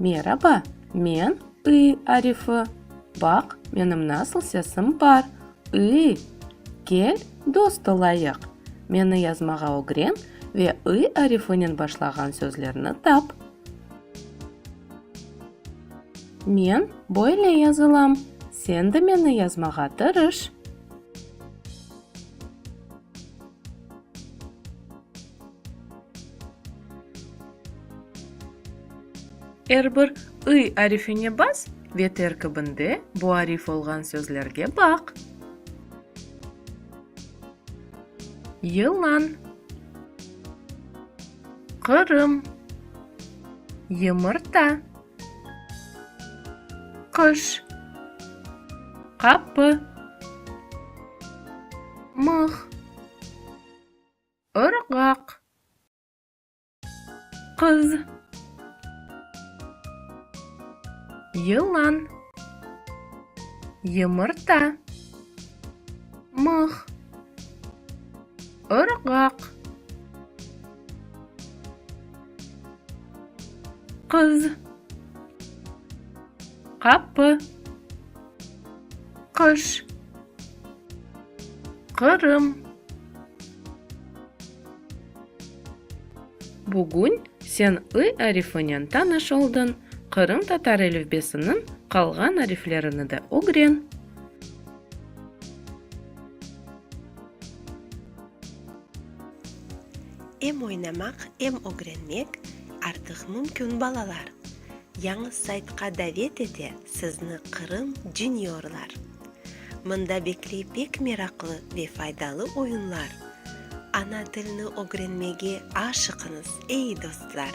Meraba, men I Arifı. Baq, menim nasıl sesim bar, I! Kel, dost olayıq. Meni yazmağa ögren ve I arifınen başlağan sözlerni tap. Men böyle yazılam, sen de meni yazmağa tırış. Er bir ı arifine bas ve terkibinde bu arif olğan sözlerge baq. Yılan, Qırım, Yımırta. Qış. Qapı. Mıh. Irğaq. Qız. Yılan. Yımırta. Mıh. Irğaq. Qız, qapı, qış, Qırım. Bugün sen ı arifinen tanış oldın, qırımtatar elifbesiniñ qalğan ariflerini de ögren. Em oynamaq, em ögrenmek artıq mümkün balalar. Yañı saytqa davet ete sizni Qırım Juniorlar. Mında bekley pek meraqlı ve faydalı oyunlar. Ana tilni ögrenmege aşıqıñız, ey dostlar!